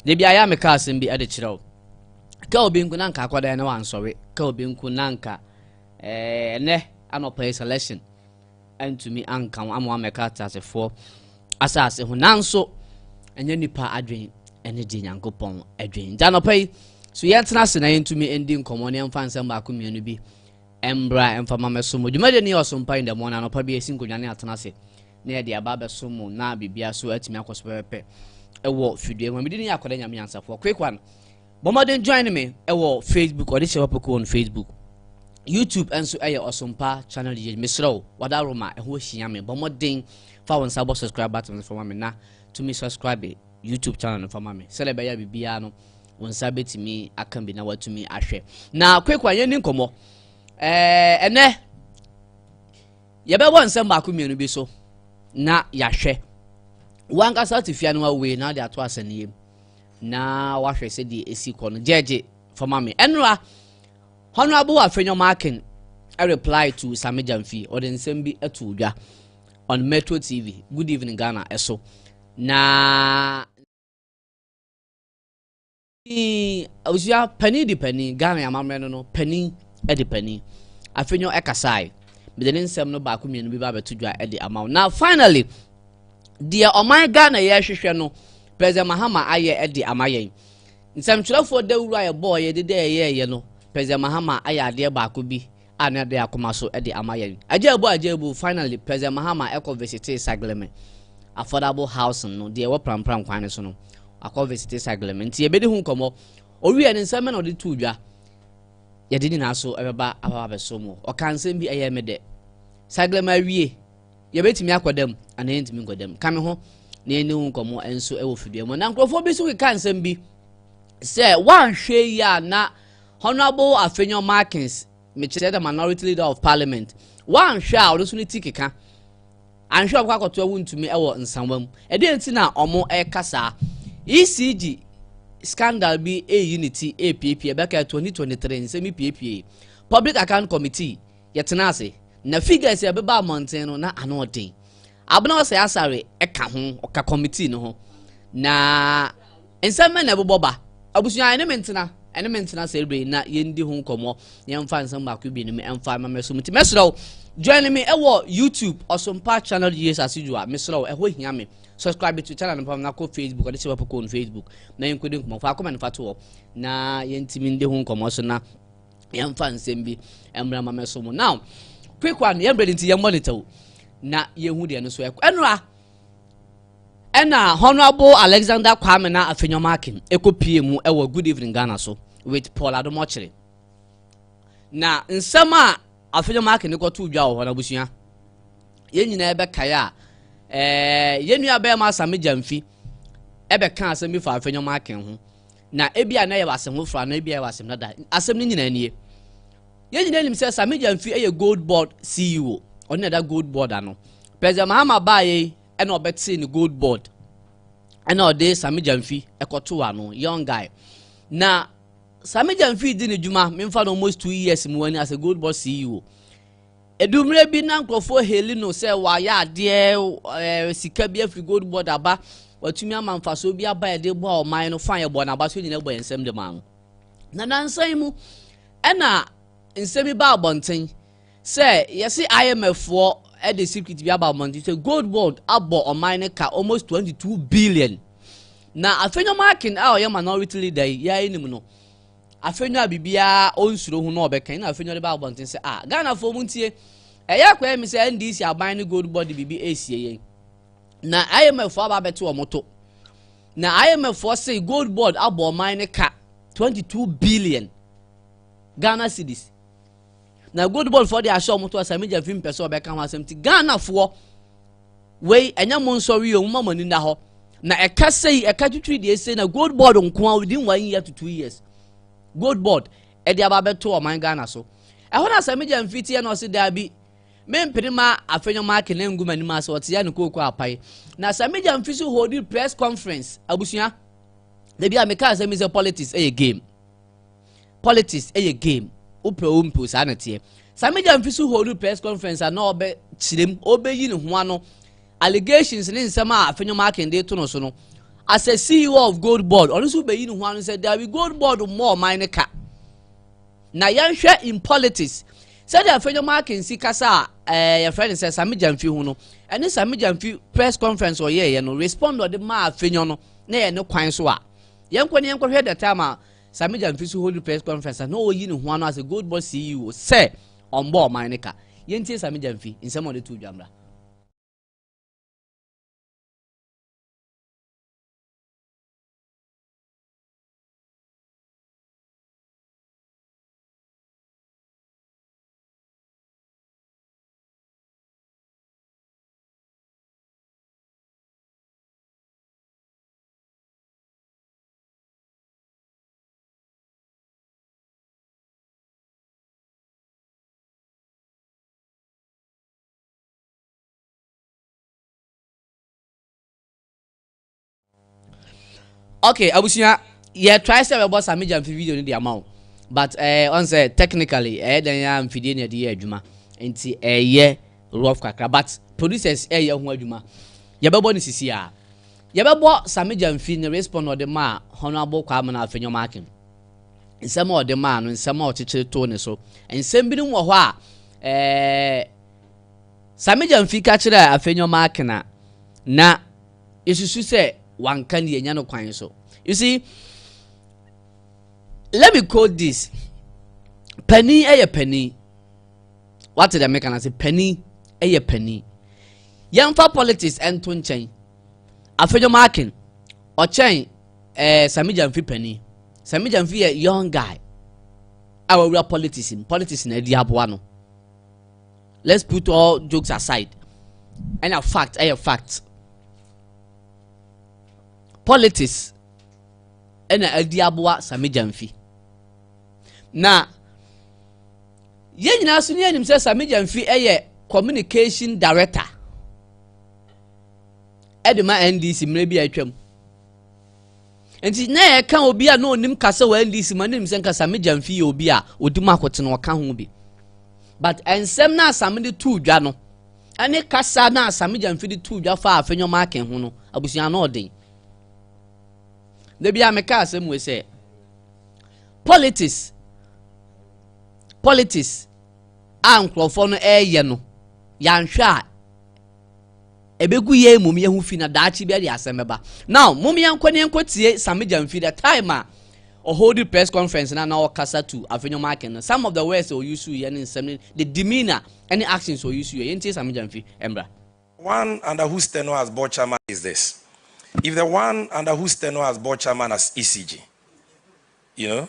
Da bi ayɛ a meka asɛm bi de kyerɛ wo. Ka obi nko na nka akɔda yɛ na wansɔre. Ka obi nko na nka eh, ɛnɛ anɔpa yi selection antumi anka wo ama wamɛka ateasefoɔ asase ho. Nanso ɛnyɛ nipa adwene ɛne deɛ Nyankopɔn adwene. Nti anɔpa yi so yɛntena ase na yɛntumi ndi nkɔmmɔ ne yɛmfa nsɛm baako mmienu bi mbra mfa ma mɛso mu. Dwumadie ne yɛ ɔsompa in the morning anɔpa bi ɛsi nkonnwa ne atena ase. na yɛde aba abɛso mo na biribia so atumi akɔ so pɛpɛpɛ ɛwɔ fidua mu mede ne yɛ akɔda nyame nyansafoɔ quick one bɔ mmɔden join me ɛwɔ facebook ɔde hyɛ wapoko on facebook youtube ɛnso ɛyɛ ɔsompa channel yɛ mesrɛ wo wada roma ɛho hyia me bɔ mmɔden fa wo nsa bɔ subscribe button no fama me na tumi subscribe youtube channel no fama me sɛdeɛ ɛbɛyɛ biribiara no wo nsa bɛtumi aka bi na watumi ahwɛ na quick one yɛni nkɔmmɔ ɛɛ ɛnɛ Yɛbɛbɔ nsɛm baako mmienu bi so na yɛahwɛ. Wankasa te fia no wawei na wode ato asɛnniiɛ mu na wahwɛ sɛdeɛ ɛsi kɔ no. Gyɛgye fama me. Ɛnora, Honorable Afenyo Markin reply to Sami Gyamfi. Ɔde nsɛm bi ato dwa on Metro TV, Good Evening Ghana ɛso. Na Abusua panin di panin, Ghana amammerɛ no no, panin di panin. Afei nyo ɛkasae. Mede ne nsɛm no baako mmienu bi ba abɛto dwa de ama wo. Na finally, deɛ ɔman Ghana yɛ hwehwɛ no, President Mahama ayɛ de ama yɛn. Nsɛmtwerɛfoɔ dawuro a yɛbɔɔ yɛde dɛ yɛyɛɛyɛ no, President Mahama ayɛ adeɛ baako bi a na ɛbɛn akoma so de ama yɛn. Agyaabu agyaabu, finally, President Mahama kɔ visitee Sagleme affordable housing no, deɛ ɛwɔ Prampram kwan no so no. Akɔ visitee Sagleme. Nti yɛbɛdi ho nkɔmmɔ. Ɔwie no, nsɛm bɛ na ɔde too dwa. Yɛde nyinaa so ɛbɛba aba abɛso mu. Ɔka nsɛm bi ɛyɛ me dɛ. Sagleme awie, yɛbɛtumi akɔ dam anaa yɛntumi nkɔ dam. Ka me ho na yɛne ho nkɔmmɔ nso ɛwɔ fidua mu. Na nkurɔfoɔ bi nso keka nsɛm bi sɛ woanhwɛ yi a na Honourable Afenyo Markins, mekyerɛ dɛ Minority Leader of Parliament, wɔannhwɛ a ɔno so ne ti keka, annhwɛ a ɔbɛkɔ akɔtoa wo ntumi wɔ nsawa mu. Ɛdeɛn nti na ɔmo ɛka saa? ECG scandal bi ɛreyi ne ti ɛrepiepie, ɛbɛkɛɛ 2023 nsɛm yi piepiee. Public Account Committee, yɛtenaa ase, na figures a ɛbebaa mmɔnten no na ano ɔden. Abena Osei Asare ka ho, ɔka kɔmitii no ho. Na nsɛm bɛn na ɛbobɔ ba? Abusua, ɛne me ntena, ɛne me ntena sɛ bere na yɛndi ho nkɔmmɔ, yɛmfa nsɛm baako bi no me ɛmfa ma mɛsom nti. Mɛsrɛ wo, join me ɛwɔ YouTube, Ɔsompa Channel Years As Usual, mesrɛ wo, ɛhɔ hia me. Subscribe to channel no pam na kɔ Facebook, ɔde sɛ wɔpɛ kɔ on Facebook, na yɛnkɔdi nkɔmmɔ, faako ma no fa to hɔ, na yɛntumi ndi ho nkɔmmɔ so na yɛmfa nsɛm bi mmra ma mɛso mu now quick one yɛn brɛdi nti yɛn monitor o na yɛhu deɛ no so ɛkɔ ɛnora ɛna honourable alexander kwame na afenyɔma akim ɛkɔ pie mu ɛwɔ good evening ghana so with paul adomɔkyere na nsɛm a afenyɔma akim ne kɔto dwa wɔ hɔ no abusua yɛn nyinaa ɛbɛkae a ɛɛ yɛn nua bɛrima asame gyamfi ɛbɛka asɛm bi fa afenyɔma akim ho Na ebia na ɛyɛ w'asɛm ho fra, na ebia ɛyɛ w'asɛm dada. Asɛm no nyinaa nie. Yɛn nyinaa nim sɛ Sami Gyamfi yɛ Gold Board CEO. Ɔno na ɛda Gold Board ano. President Mahama baayɛ yi ɛna ɔbɛtee ne Gold Board. Ɛna ɔde Sami Gyamfi ɛkɔtoo ano, young guy. Na Sami Gyamfi di ne dwuma, memfa no almost two years mu wani as a Gold Board CEO. Eduu mmerɛ bi na nkorɔfoɔ haili no sɛ wayɛ adeɛ, ɛɛ, sika bi afiri gold board aba, watumi ama mfasoɔ bi aba a ɛde boa ɔman no, fine, yɛbɔɔ no abaso nyinaa bɔ yɛn nsam de maa no. Na nansa yi mu, ɛna nsɛm yi baa abɔnten sɛ yɛse IMF foɔ de secret bi aba abɔnten sɛ gold board abɔ ɔman no ka almost 22 billion. Na afei nyɔma akin a ɔyɛ minority leader yi, yɛa anim no, Afenyo a biribiara ɔnsuro ho na ɔbɛka na Afenyo de ba abɔnten sɛ ah Ghanafoɔ mu ntie ɛyɛ akɔyɛ me sɛ NDC aban ne gold body biribi ɛresie yɛn na IMF foɔ aba abɛte wɔn to na IMF foɔ se gold board abɔ ɔman ne ka 22 billion Ghana cedis na gold ball foɔ de ahyɛ wɔn to asa media fi mpɛ sɛ ɔbɛka ho asɛm ti ghana foɔ wei ɛnyɛ mo nsɔre yi ɔmo ma mo ani da hɔ na ɛka sɛ yi ɛka titiri deɛ ɛsɛ na gold board nkoa within one year to two years gold board ɛde aba abɛto ɔman ghana so ɛhɔ na sɛ media mfiti yɛ na ɔsi daa bi mempene ma afɛnyɛ ma ake na ngu ma anim ase ɔte ya ne kooko apae na sɛ media mfiti holding press conference abusua dabi a meka asɛm mi sɛ politics ɛyɛ game. politics yɛ game wopɛ o mpo saa na teɛ saa media mfi so hold press conference a na ɔbɛ kyerɛm ɔbɛyi ne ho ano allegations ne nsɛm a afenyom akende to no so no as a ceo of gold board ɔno nso bɛyi ne ho ano sɛ dabi gold board mmɔ ɔman ne ka na yɛnhwɛ in politics sɛdeɛ afenyom akensi kasa a ɛɛ yɛfrɛ no sɛ sami gyamfi ho no ɛne sami gyamfi press conference ɔyɛɛyɛ no respond ɔde maa afenyom no na yɛ ne kwan so a yɛnkɔ ne yɛnkɔhwɛ the time a Sammy Gyamfi nso hold press conference a na ɔreyi ne ho ano asɛ Gold Boss CEO sɛ ɔmbɔ ɔman no ka. Yɛntie Sammy Gyamfi nsɛm a ɔde too dwa mmra. okay abusua yɛ try sɛ bɛbɔ sami gya mfi video no de ama wo but ɛɛ eh, ɔn sɛ technically ɛyɛ eh, dɛn yɛ mfidie na ɛde yɛ adwuma nti ɛyɛ eh, rough kakra but producers ɛyɛ ho adwuma yɛbɛbɔ no sisi a Yɛbɛbɔ Sammy Gyamfi ne respond a ɔde maa Honourable Kwabena Afenyo Markin nsɛm a ɔde maa no nsɛm a ɔkyekyere too ne so. Nsɛm binom wɔ hɔ a eh, Sammy Gyamfi ka kyerɛɛ Afenyo Markin a na yɛsusu sɛ wanka no yɛnya no kwan so. You see, let me quote this. Panin ɛyɛ panin. Wate dɛ meka no ase, panin ɛyɛ panin. Yɛmfa politics nto nkyɛn. Afedwom Akin, ɔkyɛn ɛɛ eh, Sami Gyamfi panin. Sami Gyamfi yɛ young guy a wawura politics mu. Politics na adi aboa no. Let's put all jokes aside. Ɛna fact ɛyɛ fact. Politics ɛna adi aboa Sami Gyamfi. Na Yɛn nyinaa so ne yɛnim sɛ Sammy Gyamfi yɛ communication director ɛde ma NDC mmerɛ bi a atwam nti na yɛka obi a na onim kasa wɔ NDC ma ne nim sɛ nka Sammy Gyamfi yɛ obi a odi mu akote na ɔka ho bi but nsɛm na Sammy de tuu dwa no ɛne kasa na Sammy Gyamfi de tuu dwa fa afɛnyɔma aken ho no abusua no ɔden na bi a meka asɛm wɔ sɛ politics politics a nkurɔfoɔ no ɛreyɛ no yɛanhwɛ a ɛbɛgu yɛn mmom yɛn ho fi na daakye bi ɛde asɛm bɛba now mom yɛnkɔ ne yɛnkɔ tie samigya mfi the time a ɔhold press conference na na ɔkasa to afenyɔm aken no some of the words ɔyusu yɛ ne nsɛm ne the demeanor ɛne actions ɔyusu yɛ yɛntie samigya mfi ɛmbra one under whose tenure as board chairman is this if the one under whose tenure as board chairman as ECG you know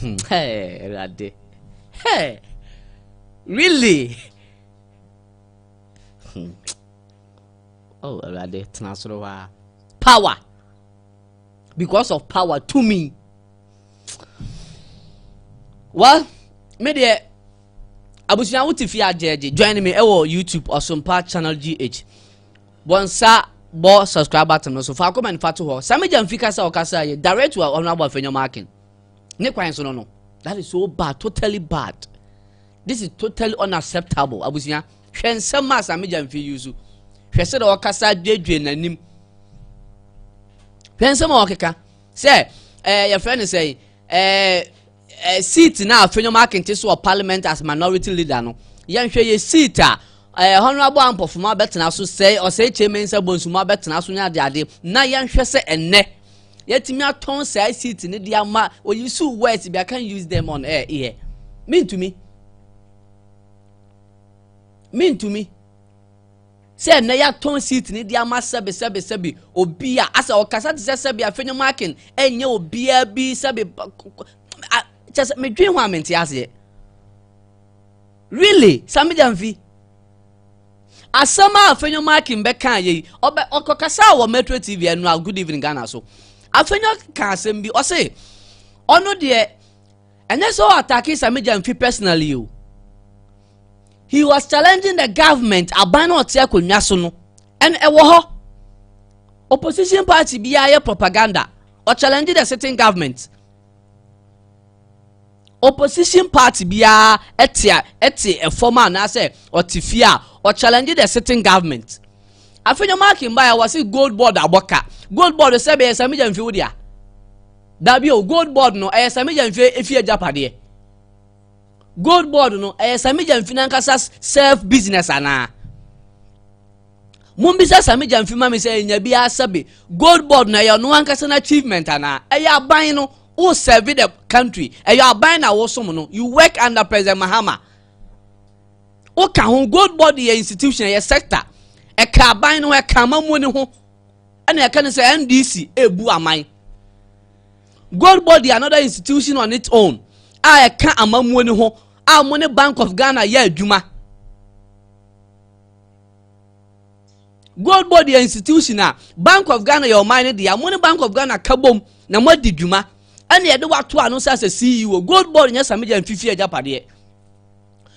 Hmm, hey, Rade. Hey, really? Hmm. Oh, Rade, Tenasrowa. Power. Because of power to me. Well, me deɛ abusua wote fie agyɛgye join me ɛwɔ youtube ɔsompa channel gh Bɔnsa bɔ subscribe button no so faako ma nifa to hɔ. Sami Gyamfi kasa a ɔkasa yɛ direct to Honorable Afenyo Markin. Ne kwan so no no. That is so bad, totally bad. This is totally unacceptable. Abusua, hwɛ nsɛm a Sami Gyamfi yi so. Hwɛ sɛ na ɔkasa duadua n'anim. Hwɛ nsɛm a ɔkeka sɛ ɛɛ eh, yɛfrɛ no sɛ ɛɛ. Eh, eh, seat na afenyom akente so wɔ parliament as minority leader no yɛnhwɛ yɛ seat a eh, honorable ampɔfoma bɛtena so sɛ ɔsɛe chairman sɛ bonsuma bɛtena so ne adeade na yɛnhwɛ sɛ ɛnnɛ yɛtumi atɔn saa seat no de ama oyisu words bi i can use them on air here mentumi mentumi sɛ ɛnɛ yɛatɔn seat no de ama sɛbe sɛbe sɛbe obi a asɛ ɔkasa te sɛ sɛbe afei ne marking ɛnyɛ obiara bi sɛbe kyɛ sɛ medwen ho a mente aseɛ really samigya mfi asɛm a afenyo marking bɛka yɛ yi ɔbɛ ɔkɔkasa wɔ metro tv ɛno a good evening ghana so afenyo ka asɛm bi ɔse ɔno deɛ ɛnyɛ sɛ ɔ atake samija mfi personally o he was challenging the government aban na ɔte akonnwa so no and ɛwɔ hɔ opposition party biara yɛ propaganda ɔ challenge the sitting government opposition party biara ɛte a ɛte ɛfam anaasɛ ɔte fie a ɔ challenge the sitting government afei nyɛ marking by a wɔsi gold board abɔka gold board sɛ bɛyɛ samija mfi wo deɛ. Dabi o, gold board no ɛyɛ Samija Mfe efi agyapadeɛ. Gold board no ɛyɛ Samija Mfe n'ankasa self business anaa? Mumbisa Samija Mfe ma me sɛ enya bi asabe. Gold board no ɛyɛ ɔno ankasa n'achievement anaa? Ɛyɛ aban no wo serve the country. Ɛyɛ aban na wosom no. You work under President Mahama. Woka ho gold board yɛ institution yɛ sector. Ɛka aban no ɛka amamuo ne ho. ɛna ɛka ne sɛ ndc ebu aman gold board yɛ another institution on its own a ɛka amammuo no ho a wɔn ne bank of ghana yɛ adwuma gold board yɛ institution a bank of ghana yɛ ɔman no deɛ wɔn ne bank of ghana ka bom na wɔn adi dwuma ɛna yɛde wato ano sɛ asɛ ceo gold board nyɛ samigya mfifi agyapadeɛ.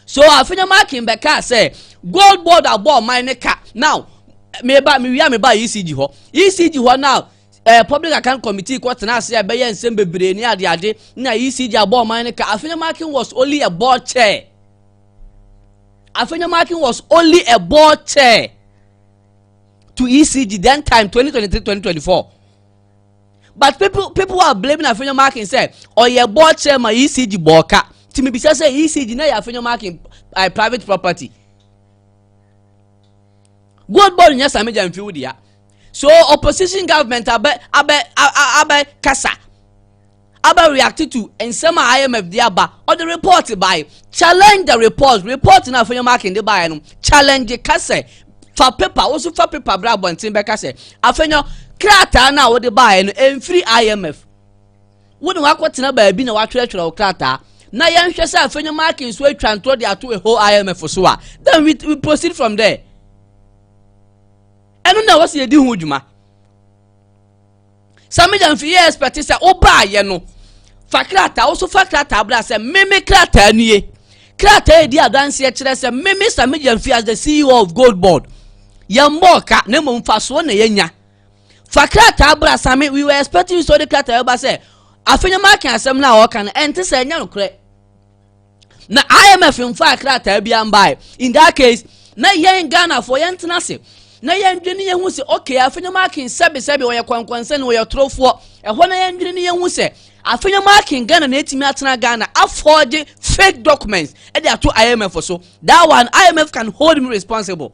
so afei na makin bɛkaa sɛ gold board abɔ ɔman ne ka now meba mewia meba ecg hɔ ecg hɔ now ɛɛ eh, public account committee kɔ tena ase a ɛbɛyɛ nsɛm bebree ne adeade na ecg abɔ ɔman ne ka afei na makin was only a board chair afei na makin was only a board chair to ecg then time 2023 2024 but people people are blaming afenyo marking sɛ ɔyɛ board chairman ecg bɔɔka ti mi bisa sɛ ecg na yɛ afenyo marking uh, private property gold board nyɛ sami gya nfiw dia so opposition government abɛ abɛ abɛ kasa Abba reacted to nsɛm a IMF de aba, ɔde report bae, challenged the report, report no a Afenyo Markin de baeɛ no, challenge ka sɛ, fa paper, wo nso fa paper bra abɔnten bɛka sɛ, Afenyo, krataa no a wode baeɛ no, ɛmfiri IMF. Wo ne wakɔtena baabi na watwerɛtwerɛ wo krataa, na yɛnhwɛ sɛ Afenyo Markin nso atwa ntorɔ de ato ɛhɔ IMF so a, then we, we proceed from there. ɛno na ɛwɔ sɛ yɛdi ho dwuma sɛ meda mfi yɛ expect sɛ wobaayɛ no fa krataa woso fa krataa bra sɛ meme krataa nie krataa edi adanseɛ kyerɛ sɛ meme sɛ meda mfi as the ceo of gold board yɛn bɔɔ ka na mmom fasoɔ na yɛnya fa krataa bra same we were expecting you so de krataa ba sɛ afei nyɛ maaka asɛm no a ɔka no ɛnte sɛ ɛnyɛ nokorɛ na imf mfaa krataa bi ambae in that case na yɛn ghanafoɔ yɛntena ase na yɛndwene yɛn ho sɛ okay afenyɛ maakin sɛbesɛbe ɔyɛ kwankwansɛne ɔyɛ torofoɔ ɛhɔ na yɛndwene ne yɛn ho sɛ afenyɛ maakin ghana na ɛtumi atena ghana afɔgye fake documents ɛde ato imf so that one imf can hold me responsible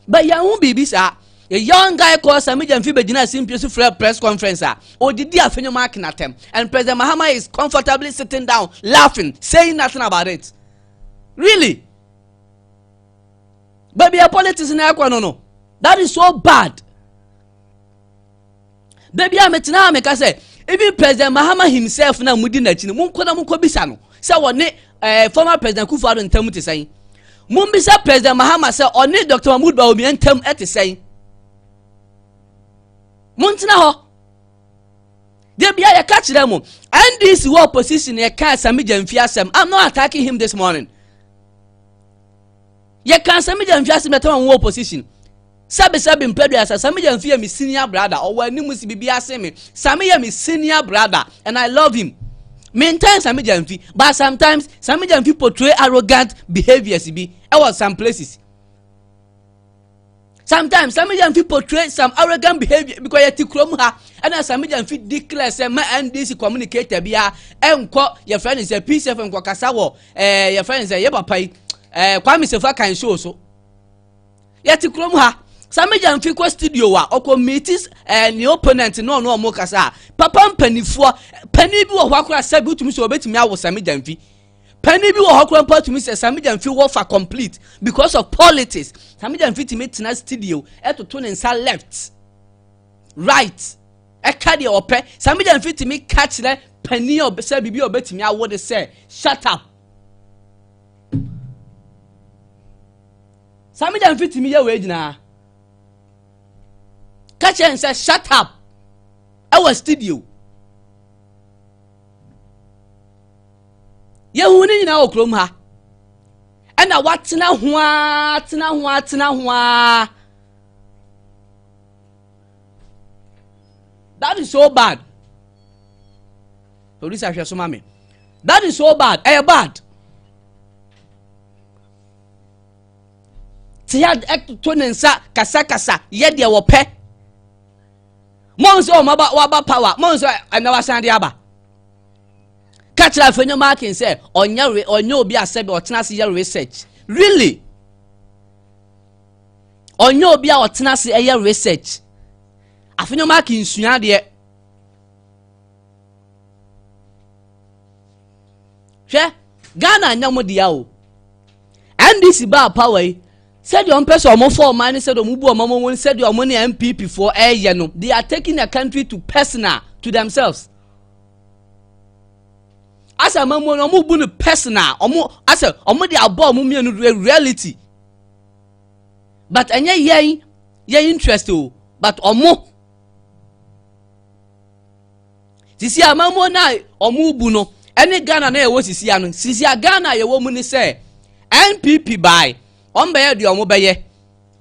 But yɛn ho biribi saa. A young guy called Sami Gyamfi bɛgyina simpie so frɛ press conference a ɔdidi afenyo mark n'atɛm and President Mahama is comfortably sitting down laughing saying nothing about it. Really? Baabi a politics na ɛkɔ no no, that is so bad. da bi a metena ha meka sɛ even president mahama himself na mudi n'akyi no monkɔ na monkɔ bisa no sɛ wɔne ɛɛ eh, former president kufu ado ntam te sɛn mombisa president mahama sɛ ɔne dr mahmood bawumia ntam te sɛn montena hɔ da bi a yɛka kyerɛ mo ndc wɔ opposition yɛka sami gyamfi asɛm i'm not attacking him this morning Yɛka Samija mfi ase mɛtama mu wɔ opposition. Sabi sabi mpɛ do asa. Samija mfi yɛ me senior brother. Ɔwɔ anim si bibi ase me. Sami yɛ me senior brother and I love him. Me ntan Samija mfi but sometimes Samija mfi portray arrogant behaviors bi ɛwɔ some places. sometimes sami gya nfi portray some arrogant behaviour because yɛ ti kurom ha ɛna sami gya nfi declare sɛ ma ndc communicator bi a ɛnkɔ yɛ fɛ ne sɛ pcf nkɔ kasa wɔ ɛɛ yɛ fɛ ne sɛ yɛ papa yi ɛɛ kwame sefa kan show so yɛ ti kurom ha sami gya nfi kɔ studio wa ɔkɔ meet ɛɛ ne opponent ne ɔno ɔmo kasa papa mpanimfoɔ panyin bi wɔ hɔ akora sɛ bi wotumi sɛ ɔbɛtumi awo sami gya nfi panyin bi wɔ hɔ koraa mpo tumi sɛ samigya nfi wɔ fa complete because of politics samigya nfi tumi tena studio ɛtoto ne nsa left right ɛka deɛ ɔpɛ samigya nfi tumi ka kyerɛ panyin ɔbɛ sɛ biribi a ɔbɛtumi awo de sɛ shut up samigya nfi tumi yɛ wei nyinaa ka kyerɛ nsɛ shut up ɛwɔ studio. Yɛhu ne nyinaa wɔ kurom ha. Ɛna watena ho ara, tena ho ara, tena ho ara. That is so bad. Producer hwɛ so ma me. That is so bad. Ɛyɛ bad. Te ya ɛto ne nsa kasakasa yɛ deɛ wɔpɛ. Mɔn sɛ wɔn aba wɔaba power. Mɔn sɛ ɛna wasan de aba. ka kyerɛ afei nyɛ marking sɛ ɔnyɛ re ɔnyɛ obi a sɛbi ɔtena ase yɛ research really ɔnyɛ obi a ɔtena ase ɛyɛ research afei nyɛ marking nsua adeɛ hwɛ ghana nyɛ mo deɛ o ndc baa power yi sɛdeɛ ɔmpɛ sɛ ɔmo fɔ ɔman ne sɛdeɛ ɔmo bu ɔmo ɔmo sɛdeɛ ɔmo ne npp foɔ ɛɛyɛ no they are taking the country to personal to themselves. asɛ amamuo no ɔmo bu no personal ɔmo asɛ ɔmo de abɔ ɔmo mmienu reality but ɛnyɛ yɛn yɛn interest o but ɔmo sisi amamuo no a ɔmo bu no ɛne ghana na yɛwɔ sisi ano sisi a ghana yɛwɔ mu ne sɛ npp baae ɔmo bɛyɛ deɛ ɔmo bɛyɛ.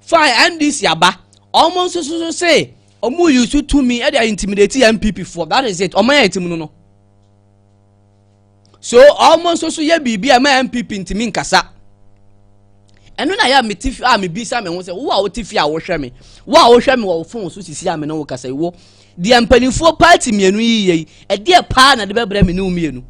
Fine NDC aba, ɔmo nso so se ɔmo yi so tumi ɛde ayɛ intimidate NPP foɔ, that is it, ɔmo ayɛ ti mu no no. So ɔmo nso so yɛ biribi a ɛma NPP ntumi nkasa. ɛno na yɛ a mete fi a mebisa me ho sɛ wo a wote fi a wohwɛ me wo a wohwɛ me wɔ wo fon so sisi a me ne wo kasa wo deɛ mpanimfoɔ paati mmienu yi yɛ yi ɛdeɛ paa na de bɛbrɛ me ne wo mmienu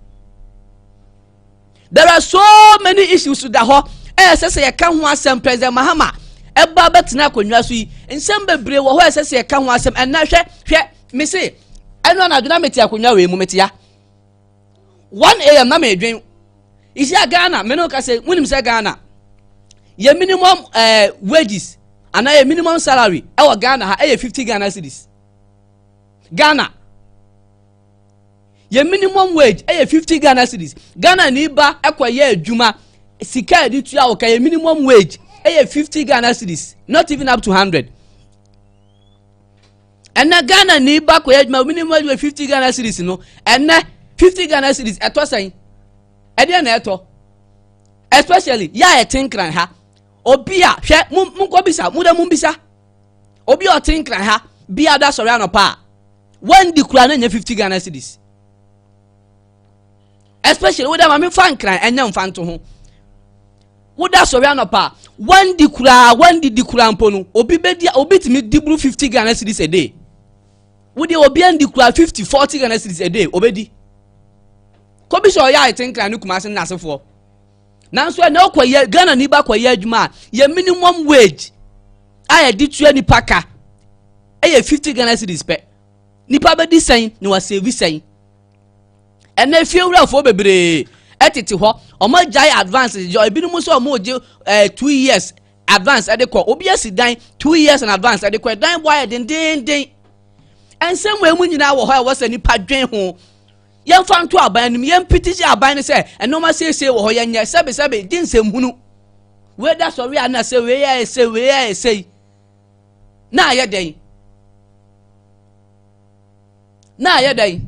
There are so many issues da hɔ a ɛsɛ sɛ yɛka ho asɛm President Mahama ɛba bɛtena akonnwa so yi nsɛm bebree wɔ hɔ a ɛsɛ sɛ yɛka ho asɛm ɛnna hwɛ hwɛ mese ɛno anadwo na mete akonnwa wei mu metea 1 am na medwen ɛhyia ghana me no ka sɛ wonim sɛ ghana yɛ minimum uh, wages anaa yɛ minimum salary ɛwɔ ghana ha ɛyɛ 50 ghana cities ghana yɛ minimum wage ɛyɛ fifty ghana series ghana ni ba ɛkɔ yɛ adwuma sika a yɛde tua wɔ ka yɛ minimum wage ɛyɛ fifty ghana series not even up to hundred ɛnɛ ghana ni ba kɔ yɛ adwuma minimum wage wɔ fifty ghana series no ɛnɛ fifty ghana series ɛtɔ sɛn ɛdeɛ na ɛtɔ especially yɛ a ɛte nkran ha obi a hwɛ mo nkɔ bisa mo dɛ mo bisa obi a ɔte nkran ha bi ada sɔrɔ anɔpa a. wandi kura na nya fifty ghana cedis especially woda maame fa nkran ɛnyɛ nfa nto ho woda sɔre anɔpa wandi kura wandi di kura mpo no obi bɛdi obi tumi di buru fifty ghana cedis a day wodi obi andi kura fifty forty ghana cedis a day obɛdi kobi sɛ ɔyɛ ayete nkran ne kumase nnasefoɔ nanso ɛnna ɔkɔyɛ ghana ni ba kɔyɛ adwuma a yɛ minimum wage a yɛde tua nipa ka ɛyɛ fifty ghana cedis pɛ nipa bɛdi sɛn na wasɛvi sɛn ɛnna efiewurafoɔ bebree ɛtete hɔ wɔn agyae advance gye ebinom nso wɔn gye ɛɛ eh, two years advance ɛde kɔ obi asi dan two years and advance ɛde kɔ ɛdan bɔ ayɛ dendenden nsɛm wɔ emu nyinaa wɔ hɔ a ɛwɔ sɛ nipa dwen ho. Yɛmfa nto aban anim, yɛmpetisi aban no sɛ nneɛma siesie wɔ hɔ, yɛnyɛ sɛbesɛbe, gye nsɛmhunu. Wei da sɔre a na sɛ wei ayɛ sɛ wei ayɛ sɛ yi. Na ayɛ dɛn? Na ayɛ dɛn?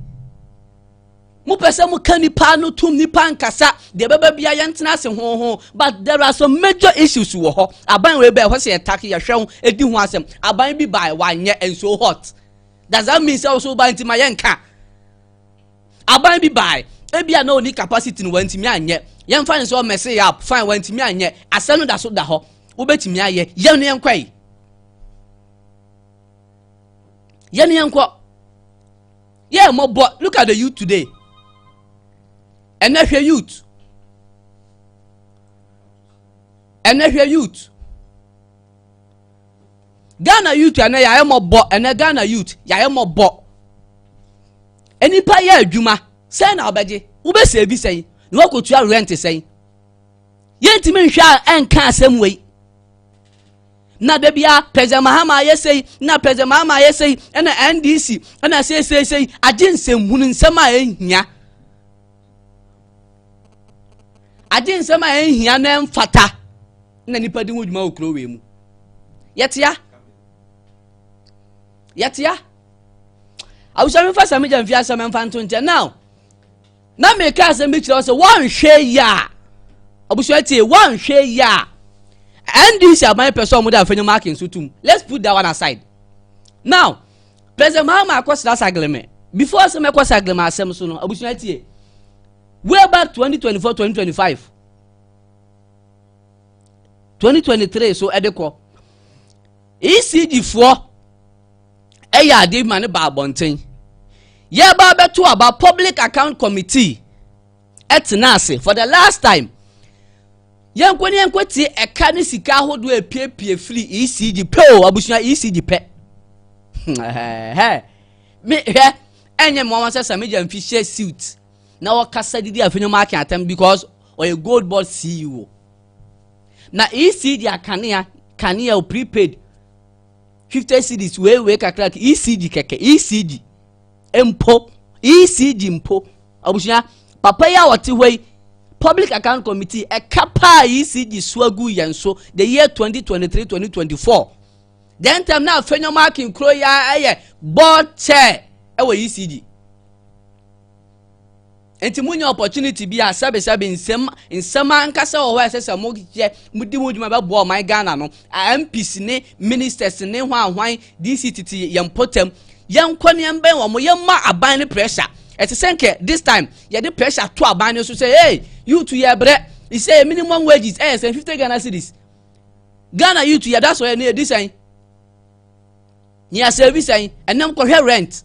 mopɛ sɛ moka nipa no tom nipa nkasa deɛ bɛba bia yɛntena ase hoho but there are some major issues wɔ hɔ aban wei bɛɛ hɔ sɛ yɛtake yɛhwɛ ho ɛdi ho asɛm aban bi bae wanyɛ nso hot does that mean sɛ ɔso ɔba nti ma yɛ nka aban bi baae ebi a na oni capacity no wantumi anyɛ yɛn fa ne sɛ ɔmɛse yɛ up fine wantumi anyɛ asɛm no da so da hɔ wobɛtumi ayɛ yɛn no yɛn kɔ yi yɛn no yɛn kɔ yɛ mmɔbɔ look at the youth today ɛnɛ hwɛ youth ɛnɛ hwɛ youth. ghana youth ɛnɛ yɛayɛ mɔbɔ ɛnɛ ghana youth yɛayɛ mɔbɔ nnipa yɛ adwuma sɛn na wobɛgye wobɛsɛ bi sɛn na woakɔtua rent sɛn yɛntumi nhwɛ a ɛnka asɛm wei na da bia president mahama ayɛ sei na president mahama ayɛ sei ɛna ndc ɛna seeseesei agye nsɛmhunu nsɛm a ɛnhia agye nsɛm a ɛnhia no ɛmfata na nipa di ho dwuma wɔ kurow wei mu yɛtea yɛtea awusam nfa sami gya nfi asɛm nfa nto nkyɛn now na meka asɛm bi kyerɛ wo sɛ wɔnhwɛ yie a abusua tie wɔnhwɛ yie a ndc aban pɛ sɛ wɔde afɛnyi marking so tum let's put that one aside now President Mahama akɔsra Sagleme. Before sɛ mɛkɔ Sagleme asɛm so no, abusua tie. Way back 2024, 2025, 2023 so ɛde kɔ. ECG foɔ ɛyɛ adeɛ ma ne ba abɔnten. Yɛba abɛto aba Public Account Committee. ɛtena ase for the last time yɛnkɔ ne yɛnkɔ tie ɛka ne sika ahodoɔ epiepie firi ecg pɛ o abusua ecg pɛ me hwɛ ɛnyɛ mmoa wɔn sɛ sɛ megya mfi hyɛ suit na wɔkasa didi afei ne mo ake atam because ɔyɛ gold board ceo na ecg akanea kanea o prepaid fifty cds weewee kakra ecg kɛkɛ ecg mpo ECG mpo abusua papa yi a ɔte hɔ yi public account committee ɛka paa ECG so agu yɛn so the year 2023 2024 then time na afei nyɔma akin kuro yi ɛyɛ board chair ɛwɔ ECG. Enti munya opportunity bi a sɛbesɛbe nsɛm nsɛm ankasa wɔ hɔ a ɛsɛ sɛ moyɛ modi ho dwuma bɛboa ɔman Ghana no MPs ne ministers ne hwan hwan DC tete yɛn mpɔtam yɛnkɔ ne yɛn bɛn wɔn yɛmma aban ne pressure ɛte sɛ nkɛ this time yɛde pressure to aban no so sɛ hey youth yɛ brɛ isɛ minimum wages ɛyɛ sɛ 50 Ghana cities Ghana youth yɛda so yɛ ne yɛdi sɛn ne yɛasɛvi sɛn ɛnam kɔhwɛ rent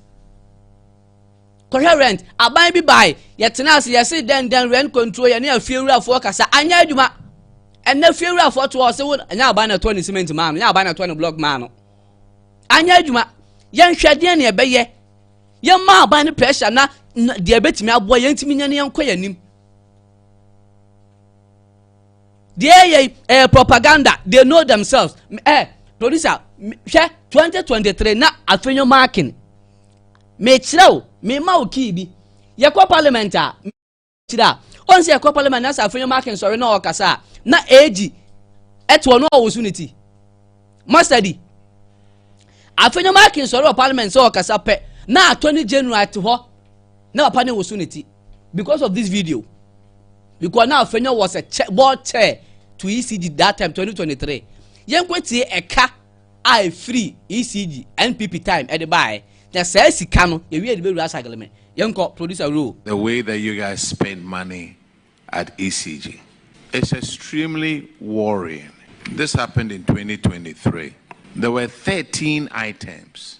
kɔhwɛ rent aban bi bae yɛtena ase yɛse dɛn dɛn rent control yɛne afiewurafoɔ kasa anyɛ adwuma ɛnna afiewurafoɔ to ɔse wo ɛnyɛ aban na ɛtɔ ne cement maa no ɛnyɛ aban na ɛtɔ ne block maa no anyɛ adwuma yɛnhwɛ deɛ ne ɛbɛyɛ yɛma aban no pressure na deɛ ɛbɛtumi aboa yɛntumi nyɛ ne yɛnkɔ yɛn anim deɛ yɛ ɛyɛ propaganda they know themselves ɛ eh, producer hwɛ 2023 na afei nyɛ marking mekyerɛ wo mema wo kii bi yɛkɔ parliament a kyerɛ a ɔn sɛ yɛkɔ parliament na sɛ afei ma akensɔre na ɔkasa a na age ɛte ɔno ɔwo so ne ti mastadi afei ma akensɔre wɔ parliament sɛ ɔkasa pɛ na attorney general te hɔ na papa ne wo so ne ti because of this video because na afei was a board chair to ECD that time 2023 yɛnkɔ tie ɛka a ɛfiri ECG NPP time ɛde baaɛ na saa sika no yɛwie yɛde bɛwura Asagleme. Yɛnkɔ producer Roo. The way that you guys spend money at ECG is extremely worrying. This happened in twenty twenty three, there were thirteen items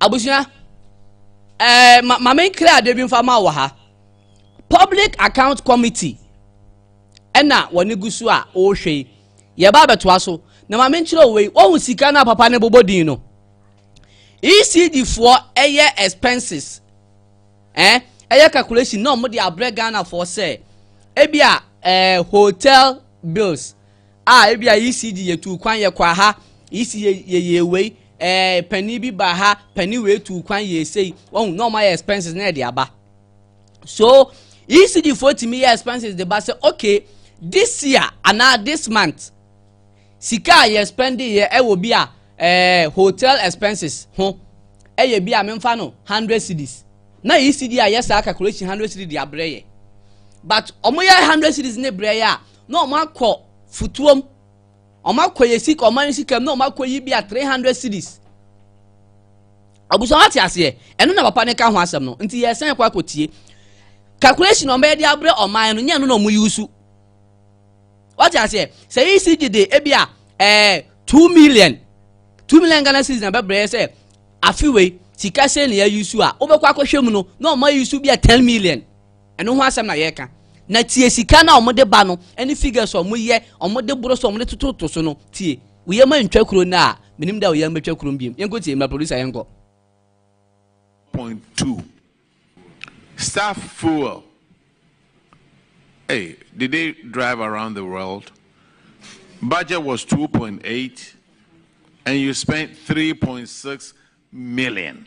abusua ɛɛ ma ma me nkira adeɛ bi nfa ma wɔ ha public account committee ɛna wɔne gu so a wɔrehwɛ yi yɛba abɛtoa so na ma me nkyerɛ wei wɔhu sika no a papa no bobɔ din no ecd foɔ ɛyɛ expenses ɛɛ ɛyɛ calculation na wɔn de abrɛ ghana foɔ sɛ ebi a ɛɛ hotel bills. a ebia ECG yɛ tuu kwan yɛ kɔ aha, ECG yɛ yɛ yɛ wei, ɛɛ eh, panin bi ba ha, panin wei tuu kwan yɛ esei, wɔn na wɔn ayɛ expenses na ɛde aba. So ECG foɔ tumi yɛ expenses de ba sɛ okay this year anaa this month sika a yɛ spend yɛ ɛwɔ bi a ɛɛ eh, hotel expenses ho ɛyɛ bi a memfa no hundred cities na ECG a yɛ saa calculation hundred cities de abrɛ yɛ but wɔn yɛ hundred cities ne brɛ yɛ a. na ɔmo akɔ futuom ɔmo akɔ yɛ sika ɔmo ayɛ sika mu na ɔmo akɔ yi bi a three hundred cities abusua ate aseɛ ɛno na papa ne ka ho asɛm no nti yɛ sɛn kɔ akɔ tie calculation na ɔmo yɛ de abrɛ ɔman no nyɛ no na ɔmo yusu wate aseɛ sɛ yi si gye de ebi a ɛɛ two million two million ghana cities na bɛbrɛ sɛ afiwei sika sɛ na yɛ yusu a wobɛkɔ akɔhwɛ mu no na ɔmo ayusu bi a ten million. Ɛno ho asɛm na yɛreka. Na tie sika no a wɔde ba no ne figures a wɔyɛ, wɔde boro so, wɔde tototo so no. Tie. Wo yam antwa kuro no a, menim da a wo yam bɛtwa kuro no biom. Yɛnkɔ tie, ma producer yɛnkɔ. Point two, staff fuel, ei, did they drive around the world? Budget was two point eight and you spent three point six million.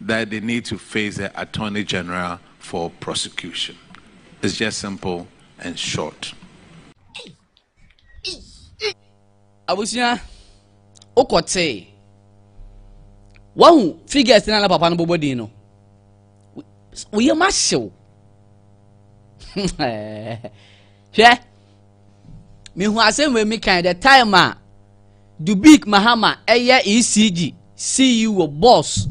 that they need to face the Attorney General for prosecution. It's just simple and short. abusua wokɔ tee wahu figures na na papa no bɔbɔ din no woyɛ ma hyew hwɛ Mehu asɛm wei mi kan the time a Dubik Mahama ɛyɛ ECG CEO boss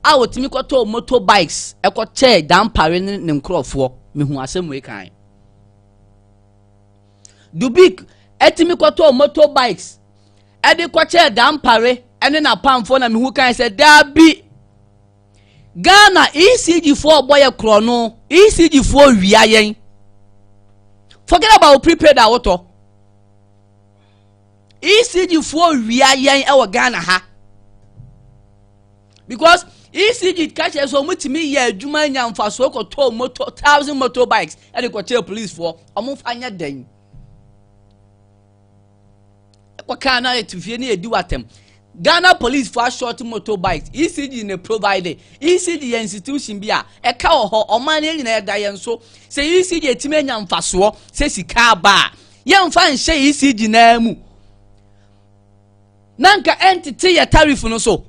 a otumi kɔtɔ motor bikes ɛkɔ kyɛɛ dampare ne ne nkorɔfoɔ. Mehu asɛm wei kan. Dubik ɛtumi kɔtɔ motor bikes ɛde kɔkyɛɛ dampare ɛne n'apamfoɔ na mehu kan sɛ daabi Ghana ECG foɔ ɔbɔ yɛ korɔno ECG foɔ wia yɛn forget about prepaid a wotɔ ECG foɔ wia yɛn ɛwɔ Ghana ha because ECG ka kyerɛ sɛ wɔn tumi yɛ adwuma nya nfasoɔ kɔtɔ moto thousand motorbikes ɛde kɔkyerɛ police foɔ wɔn fa nyɛ dɛn. ɛkɔ kaa na ɛto fie na yɛdi watam ghana police for short motorbikes ecg na provide ecg yɛ institution bi a ɛka wɔ hɔ ɔman no nyinaa ɛda yɛn so sɛ ecg ɛtumi anya mfasoɔ sɛ sika aba a yɛmfa nhyɛ ecg naa mu na nka ɛntete yɛ tariff no so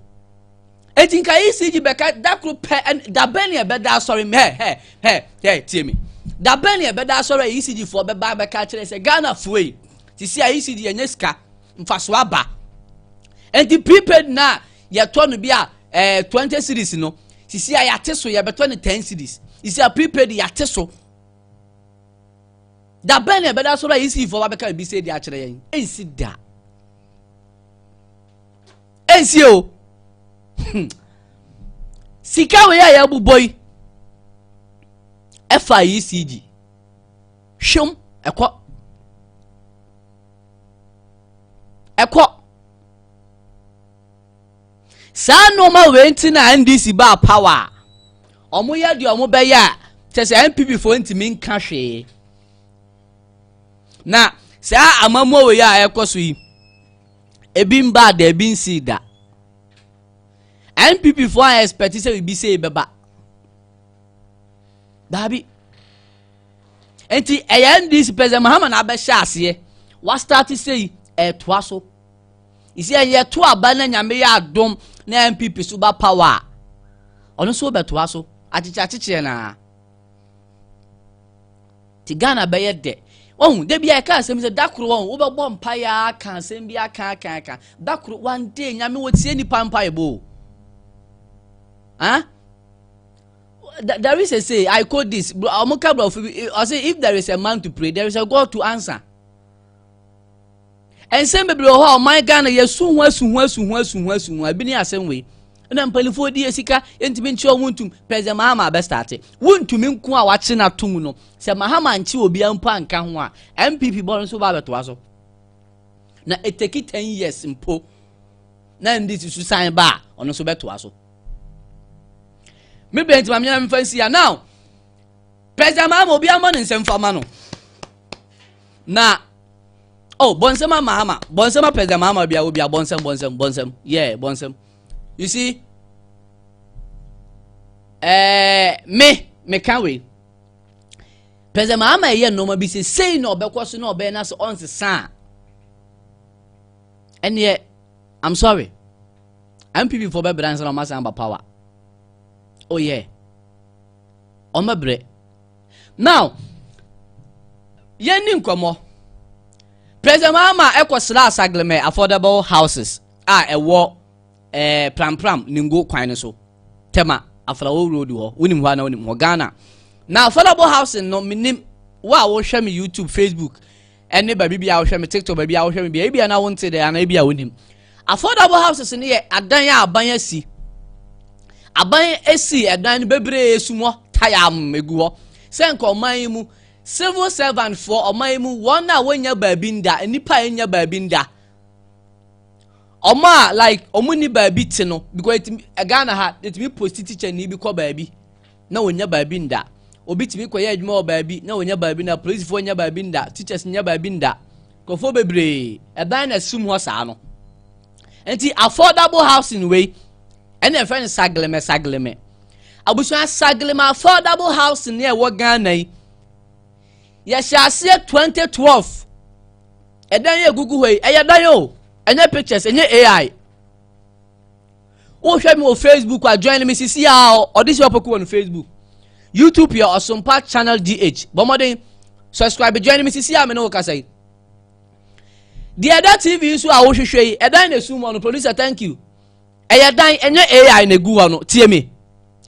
eti nka ecg bɛka da koro pɛ dabɛn ne ɛbɛda asɔre mu hɛ hɛ hɛ hɛ tie mi dabɛn ne ɛbɛda asɔre a ecg foɔ bɛba bɛka kyerɛ sɛ ghana foɔ yi te si a ecg yɛnyɛ sika mfaso aba eti prepaid na yɛtɔ no bi a ɛɛ eh, twenty series no sisi a yɛate so yɛbɛtɔ no ten series sisi a prepaid yɛate so dabɛn ne ɛbɛda asɔre a ecg foɔ bɛka ebi sɛ ɛdi akyerɛ yɛn ɛnsi da. ɛnsie o hmm. sika wei a yɛabobɔ yi ɛfa ecg hwɛm ɛkɔ ɛkɔ saa nneɛma wei nti na ndc baa power a wɔyɛ deɛ wɔbɛyɛ a kyɛ sɛ npp foɔ ntumi nka hwee Na saa amammuo wei a ɛrekɔ so yi, ebi mbaa da, ebi nsii da. NPP foɔ a expect sɛ biribi sei bɛba. Daabi. Nti ɛyɛ NDC President Mahama na abɛhyɛ aseɛ. Wastart sei, ɛretoa so. Isi ɛyɛ to aba na nyame yɛ adom na NPP so ba power a, ɔno nso bɛtoa so. Akyekyeakyekyeɛ naa. Ti Ghana bɛyɛ dɛ. Wahu, da bi a yɛka asɛm sɛ da koro wɔn, wobɛbɔ mpaeɛ aka asɛm bi aka aka aka. Da koro, one day, nyame wɔtie nipa mpaebɔ o. Huh? There is a say, I quote this, ɔmo ka brɔfo bi, ɔse if there is a man to pray, there is a God to answer. nsɛm bebree wɔ hɔ a ɔman ghana yɛsu ho asu ho asu ho asu ho asu ho ebi ne asɛm wei na mpanimfoɔ di sika yɛntumi nkyerɛ wɔn ntum president mahama abɛstate wontumi nko a wakye no atom no sɛ mahama nkye obiara mpo anka ho a mpp bɔre nso ba abɛtoa so na ɛtaki ten years mpo na ɛnde si so san ba a ɔno nso bɛtoa so me bɛn ti maame nyame nfa nsi ya now president mahama obiara ma ne nsɛm fa ma no Na oh bɔnsɛm ama ama bɔnsɛm apɛ dɛm ama bia obi a bɔnsɛm bɔnsɛm bɔnsɛm yeah bɔnsɛm you see eh, me me ka wei pɛ dɛm ama ɛyɛ nneɛma bi sɛ sei na ɔbɛkɔ so na ɔbɛyɛ na sɛ ɔnsesa a ɛneɛ i'm sorry mpp fo bɛbrɛ ansa na ɔmasan ba power oh yeah ɔmɛbrɛ Now, yɛnni nkɔmmɔ. President Mahama ɛkɔsraa Sagleme affordable houses a ɛwɔ eh, Prampram Ningo kwan no so. Tema, Afrawo Road hɔ. Wonim hɔ ana wonim hɔ Ghana. Na affordable housing no menim wo a wohwɛ me YouTube, Facebook. ɛne baabi bi a wohwɛ me tiktok baabi a wohwɛ me bia ebi a na wonte dɛ anaa ebi a wonim affordable houses no yɛ adan a aban asi aban asi ɛdan no bebree sumɔ tayam egu hɔ sɛ nka ɔman yi mu civil servant foɔ ɔman yi mu wɔn a wonya baabi nda nnipa a enya baabi nda ɔmo a like ɔmo ni baabi te no because ɛtumi ghana ha ɛtumi post teacher ni bi kɔ baabi na wɔnnya baabi nda. Obi tumi kɔyɛ adwuma wɔ baabi na wɔnnya baabi nda. Polisifoɔ nnya baabi nda. Teachers nnya baabi nda. Nkurɔfoɔ bebree, ɛdan na ɛsum hɔ saa no. Nti affordable housing wei, ɛna ɛfrɛ no sagleme sagleme. Abusua sagleme affordable housing ne ɛwɔ Ghana yi, yɛhyɛ aseɛ 2012. Ɛdan yɛ gugu hɔ yi, ɛyɛ dan o, ɛnyɛ pictures, ɛnyɛ AI. wohwɛ me wɔ facebook a join me sisi a ɔde si ɔpɔku wɔ no facebook youtube yɛ ɔsompa channel dh bɔ mmɔden subscribe join me sisi a me ne wo kasa yi deɛ ɛda tv so a wohwehwɛ yi ɛdan na esum hɔ no producer thank you ɛyɛ dan ɛnyɛ ai na egu hɔ no tie me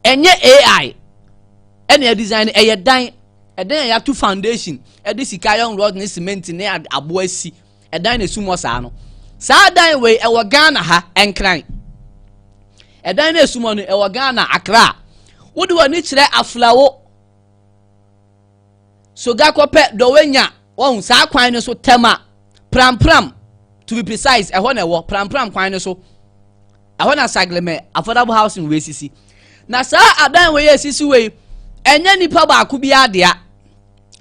ɛnyɛ ai ɛna ɛdesign ɛyɛ dan ɛdan a yɛato foundation ɛde sika iron rod ne cement ne aboa si ɛdan na esum wɔ saa no saa dan wei ɛwɔ ghana ha nkran ɛdan na esum wɔ no ɛwɔ ghana akra wode w'ani kyerɛ aflawo soga kɔpɛ dɔwɛnya wɔn saa kwan no so tɛma prampram to be precise ɛhɔ na ɛwɔ prampram kwan no so ɛhɔ na saglemɛ affordable housing wei sisi na saa adan wei yɛ sisi wei ɛnyɛ nipa baako bi adea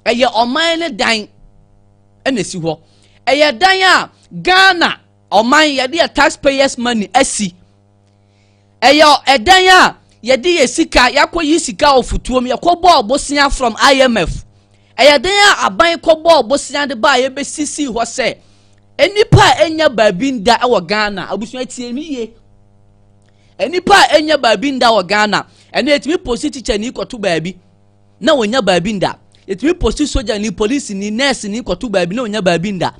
ɛyɛ ɔman ne dan. ɛna esi hɔ ɛyɛ dan a ghana ɔman yɛde yɛ taxpayers money asi ɛyɛ ɛdan a yɛde yɛ sika yɛakɔ yi sika wɔ futuo mu yɛkɔ bɔ ɔbosea from imf ɛyɛ dan a aban kɔ bɔ ɔbosea de ba a yɛbɛsisi hɔ sɛ nnipa a ɛnya baabi nda ɛwɔ ghana abusua tie mi yie nnipa a ɛnya baabi nda wɔ ghana ɛna yɛtumi posi tikya ni kɔto baabi. na wɔnya baabi nda yɛtumi posti sogyani polisini nɛɛsini kɔto baabi na wɔnya baabi nda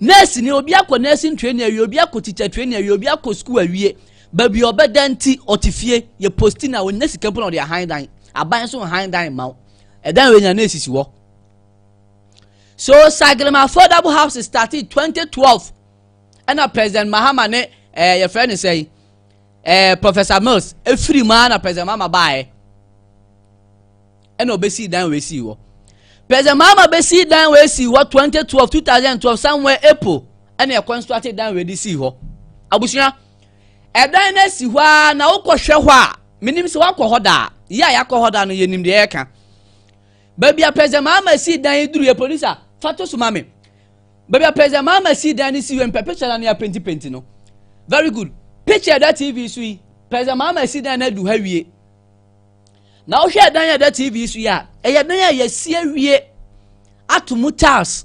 nɛɛsini obi akɔ nɛɛsin training awie obi akɔ tikya training awie obi akɔ sukuu awie baabi ɔbɛda nti ɔte fie yɛ posti na wɔnya sika mpo na ɔde ahan dan aban so han dan ma wo ɛdan wɔ nya na esisi hɔ so sagrema affordable house started 2012 ɛna president mahama ne ɛɛ eh, yɛfrɛ ne sɛn ɛɛ professor mills efiri mu ara na president mama baeɛ ɛna ɔbɛsii dan wɔ esii hɔ president mama bɛsii dan wɔ esii hɔ 2012 2012 somewhere april ɛna ɛkɔ nso ate dan wɔ edi sii hɔ abusua ɛdan no esi hɔ ara na wokɔ hwɛ hɔ a menim sɛ wakɔ hɔ daa yɛ a yakɔ hɔ daa no yɛnim deɛ ɛka baabi a president mama sii dan yi duru yɛ producer fa to so ma me Baabi a President Mahama sii dan no si wɔ mpɛ picture no ne apentipenti no. Very good. Picture ɛda TV so yi, President Mahama si dan no adu ha wie. Na wohwɛ dan a ɛda TV so yi a, ɛyɛ dan a yɛasi awie ato mu tiles,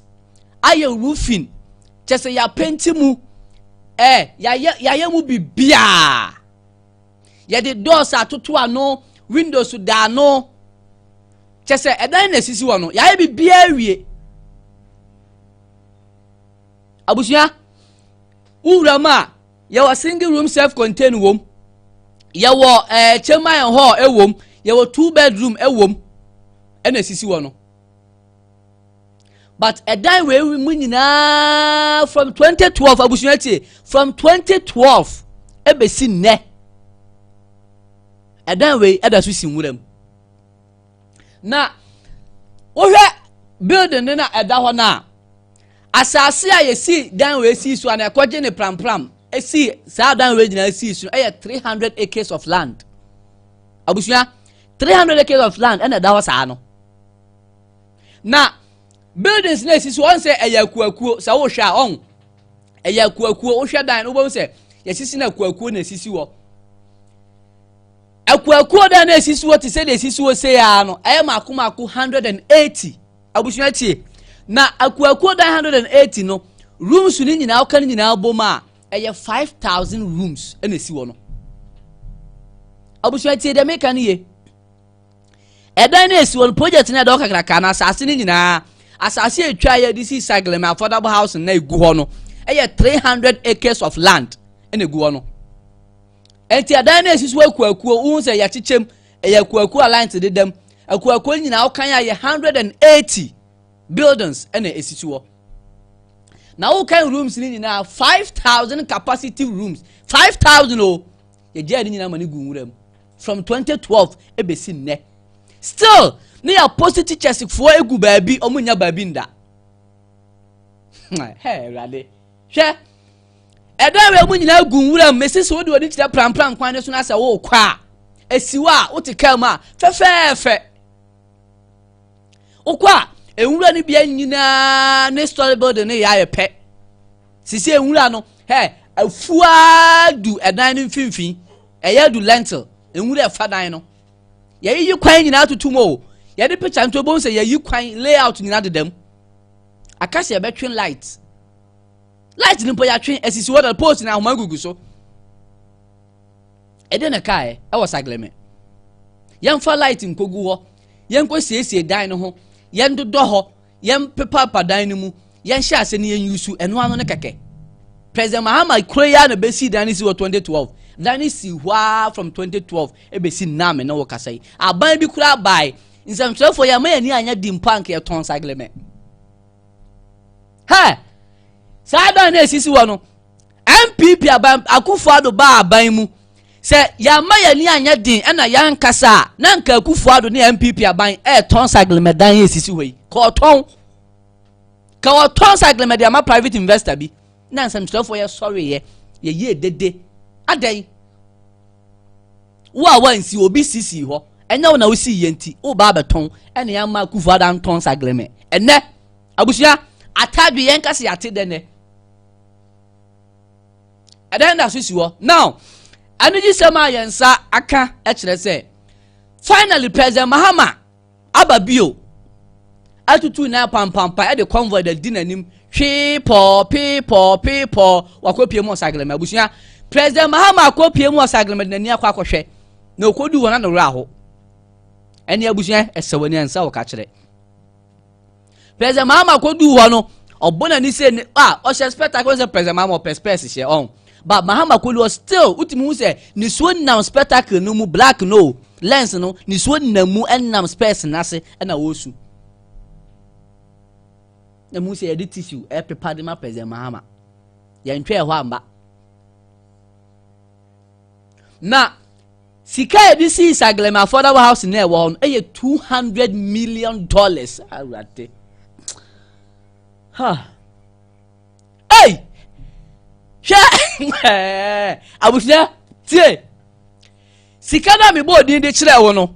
ayɛ roofing, kyɛ sɛ yɛapenti mu, eh, yɛayɛ, yɛayɛ mu biribiara. yɛde doors atoto ano windows da ano kyɛ sɛ ɛdan na esisi hɔ no yɛayɛ biribiara awie abusua wowura mu a yɛwɔ single room self contained wom yɛwɔ ɛɛ eh, chamber and hall ɛwom yɛwɔ two bedroom ɛwom ɛna esisi hɔ no but ɛdan wei mu nyinaa from 2012 abusua tie from 2012 ɛbɛsi nnɛ ɛdan wei ɛda so si nwura mu na wohwɛ building no na ɛda hɔ no a asase a yɛsi dan wei si so a na ɛkɔgye ne prampram ɛsi saa dan wei nyinaa si so ɛyɛ 300 acres of land abusua 300 acres of land ɛna ɛda hɔ saa no na buildings na esisi wɔn sɛ ɛyɛ akuakuo sɛ wohwɛ a ɔn ɛyɛ akuakuo wohwɛ dan no wobɛhu sɛ yɛsisi na akuakuo na esisi wɔ akuakuo dan na esisi wɔ te sɛ deɛ esisi wɔ sɛ yaa no ɛyɛ mako mako hundred and eighty abusua tie na akuakuo dan hundred and eighty no rooms no nyinaa ɔka no nyinaa bom a ɛyɛ five thousand rooms ɛna esi wɔ no abusua tie deɛ meka no yie. ɛdan no esi hɔ no project no ɛdɔ kakraka na asase no nyinaa asase a etwa yɛ de si saglem affordable housing na egu hɔ no ɛyɛ three hundred acres of land ɛna egu hɔ no ɛnti ɛdan no esi so akuakuo ohun sɛ yɛkyekyɛm ɛyɛ akuakuo a lines dedam akuakuo nyinaa ɔkan a yɛ hundred and eighty buildings ɛna esi so hɔ na wokan rooms no nyinaa five thousand capacity rooms five thousand o yɛgyaa ne nyinaa ma ne gu nwura mu from twenty twelve ebesi nnɛ still ne yɛ apostle teachers foɔ egu baabi ɔmo nya baabi nda hɛ ɛwurade hwɛ ɛdɔ awɛ mu nyinaa gu nwura mu mesi so wode w'ani kyerɛ prampram kwan ne so na sɛ worekɔ a esiw a wote kaa mu a fɛfɛɛfɛ wokɔ a nwura no bia nyinaa ne story building no yɛ ayɛ pɛ sisi nwura no hɛ afuaa du ɛdan no mfimfini Ɛyɛ du lentil nwura ɛfa dan no yɛyiyi kwan nyinaa tutu mu o yɛde picture nto ebi sɛ yɛyi kwan layout nyinaa deda mu aka sɛ yɛbɛtwe light light no mpo yɛatwe asisi hɔ na post na ahoma gugu so ɛde na kaeɛ ɛwɔ sagleme yɛmfa light nkogu hɔ yɛnkɔ siesie dan no ho yɛndodɔ hɔ Yɛmpepaapa dan no mu, yɛnhyɛ ase na yɛnwusu ɛno ano no kɛkɛ. President Mahama kuro yi ara na bɛsii dan no si wɔ 2012. Dan no sii hɔ ara from 2012 ɛbɛsi nnaa me ne wo kasa yi. Aban bi koraa bae, nsɛmtwerɛfoɔ yɛn ama yɛn ani anyɛ di mpo anka yɛtɔn sagleme. Hɛ! Saa dan no ɛsisi hɔ no, NPP aban Akufo Addo baa aban mu sɛ yɛama yɛn ani anyɛ den ɛna yɛankasa a na nka Akufo Addo ne NPP aban ɛretɔn saglemadan a ɛsisi hɔ yi ka ɔtɔn ka ɔtɔn saglema de ama private investor bi na nsɛmtwerɛfoɔ yɛ sɔreeɛ yɛyie dede adɛn wo a wansi obi sisi hɔ ɛnyɛ wo na wosi yɛ nti woba abɛtɔn ɛna yɛama Akufo Addo antɔn saglema ɛnɛ abusua atadwe yɛn kasi ate dɛ nɛ ɛdɛn na so si hɔ now anigyesɛm a yɛn nsa aka kyerɛ sɛ finally president mahama aba bio atutu na pampampa ɛde convoy da di n'anim hwee pɔɔ pee pɔɔ pee pɔɔ wakɔpie mu ɔsaglema abusua president mahama akɔpie mu ɔsaglema de n'ani akɔ akɔhwɛ na okodu wɔn ano werɛ aho ɛne abusua ɛsɛ wɔn ani ansa wɔ kakyerɛ president mahama koduu hɔ no ɔbɔ n'ani sɛ ne a ɔhyɛ spectacle sɛ president mahama ɔpɛ spɛs hyɛ ɔn ba mahama kolu ɔ still wotumi hu sɛ nisuo nam spectacle no mu black no lens no nisuo nam mu ɛnam spɛs n'ase ɛna ɔresu na mu sɛ yɛde tissue ɛpepa de ma president mahama yɛntwɛ ɛhɔ amba na sika a yɛde sii saglem affordable house na ɛwɔ hɔ no yɛ two hundred million dollars awurade ha ei hwɛ abusua tie sika no a mebɔ odin de kyerɛ wo no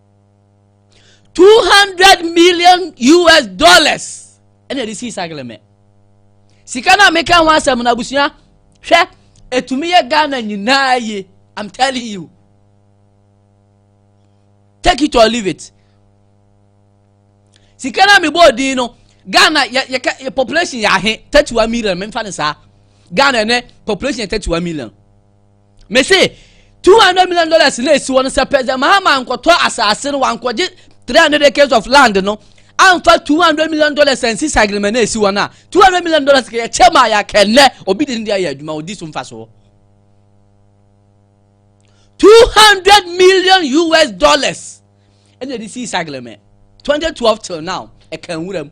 two hundred million us dollars ɛna ɛde sii sagleme sika no a meka ho asɛm no abusua hwɛ ɛtumi yɛ ghana nyinaa ye i'm telling you take it or leave it sika no a mebɔɔ din no ghana yɛka population yɛ ahe thirty one million memfa no saa ghana ɛnɛ population yɛ thirty one million mese two hundred million dollars na esi hɔ no sɛ president mahama nkɔtɔ asase no wankɔgye three hundred acres of land no anfa two hundred million dollars ansi sagrema na esi hɔ no a two hundred million dollars kɛyɛ kyɛ ma yɛ akɛnɛ obi de ne de ayɛ adwuma odi so nfa so two hundred million us dollars ɛna ɛde si sagrema twenty twelve till now ɛka nwura mu.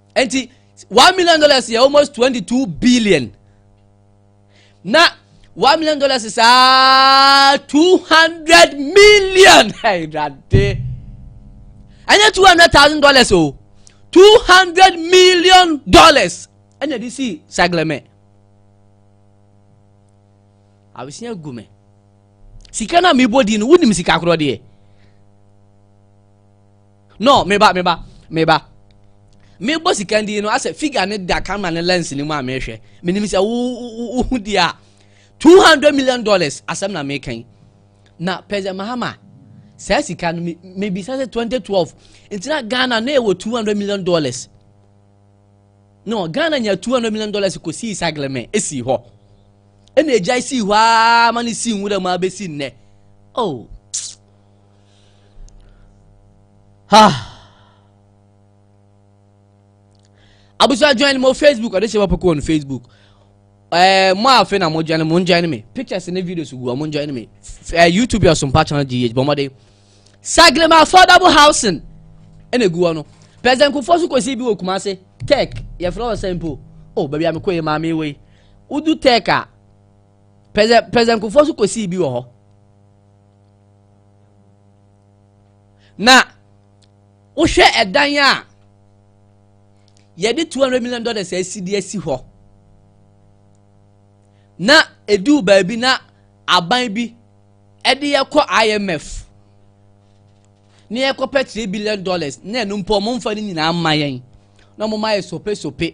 nti one million dollars yɛ almost twenty two billion na one million dollars is ah two hundred million ɛyɛdade ɛnyɛ two hundred thousand dollars o two hundred million dollars ɛna ɛde si saglɛmɛ abesia gu me sika na mebɔ di no wonim sika korɔ deɛ No, me ba, me ba, me ba. Me bɔ sika ndi no asɛ figure ne da camera ne lens ne mu a mehwɛ. Me nim sɛ wo wo ho di a 200 million dollars asɛm na me kan. Na President Mahama saa sika no me bisa sɛ 2012 ntina Ghana na ɛwɔ 200 million dollars. No, Ghana nya 200 million dollars ko si sagleme esi hɔ. Ɛna egya si hɔ a ma ne si nwura mu abesi nnɛ. Oh. Ah. Abusua join mo Facebook ɔde hyɛ wɔpɛ kɔɔ no Facebook ɛɛ eh, mo a afei na mo join mo join me pictures ne videos gu mo join me ɛɛ eh, YouTube yɛ sompa channel gh bɔmɔde Sagrema affordable housing ɛna egu hɔ no president Kufuor nso kɔsi bi wɔ Kumasi tech yɛfrɛ wɔ sɛ mpo o oh, baabi a mekɔ yɛ maame wei wodu tech a president Kufuor nso kɔsi bi wɔ hɔ. na wohwɛ ɛdan a yɛde two hundred million dollars asi de asi hɔ na eduu baabi na aban bi ɛde yɛkɔ imf na yɛkɔpɛ three billion dollars na ɛno mpo ɔmo nfa ne nyinaa mma yɛn na ɔmo ma yɛ sope sope.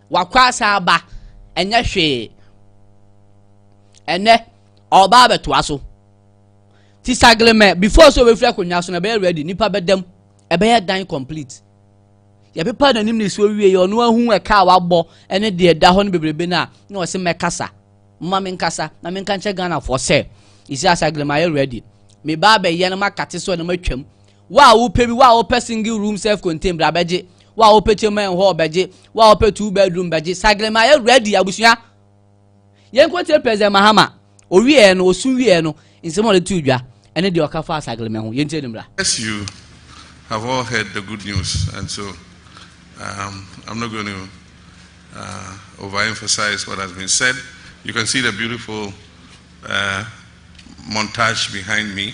Wakɔ asan aba, ɛnyɛ hwee. Ɛnɛ, ɔreba abɛtoa so. Ti saglemɛ, before sɛ obɛfiri akonnwa so na ɛbɛyɛ ready, nipa bɛdam, ɛbɛyɛ dan complete. Yɛpepa n'anim ne so wie, ɔno ahu ɛka a wabɔ ɛne deɛ ɛda hɔ no bebrebe no a, na ɔse mɛkasa. Mma me nkasa, na menka nkyɛ Ghanafoɔ sɛ, ɛsi asaglemɛ ayɛ ready. Me ba abɛyɛ no makate so na matwam. Wo a wopɛ bi, wo a wopɛ single room self contained bra bɛgye, wo a wopɛ chamber and hall bɛgye, wo a wopɛ two bedroom bɛgye, Saglema yɛ ready abusua. Yɛnkɔ tie President Mahama, owieɛ no, osu wieɛ no, nsɛm a ɔde too dwa ɛne deɛ ɔka faa Saglema ho, yɛntie no mmra. As you have all heard the good news and so um, I'm not going to uh, overemphasize what has been said. You can see the beautiful uh, montage behind me.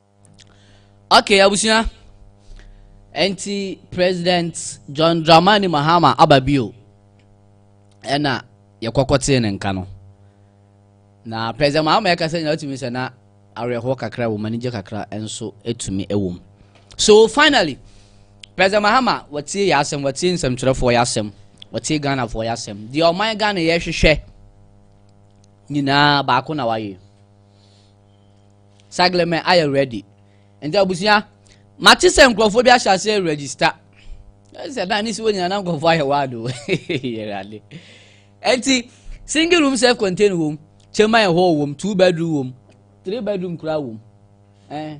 okay abusua ɛnti president john dramani mahama aba bio ɛna yɛkɔkɔtee ne nka no na president mahama ɛka sɛ nyina wotumi sɛ na awerɛhoɔ kakra wɔ mu anigye kakra nso ɛtumi ɛwɔ mu so finally president mahama wɔtie yɛ asɛm wɔtie nsɛmtwerɛfoɔ yɛ asɛm wɔtie ghanafoɔ yɛ asɛm deɛ ɔman ghana yɛhwehwɛ nyinaa baako na wayɛ Saglemɛ ayɛ ready. Nti abusua, mate sɛ nkurɔfoɔ bi ahyɛ ase register. Sɛ na ne si wɔ nyina na nkurɔfoɔ ayɛ wado. Yɛrade. Nti single room self contained wom, chamber and hall wom, two bedroom wom, three bedroom kura wom. Eh.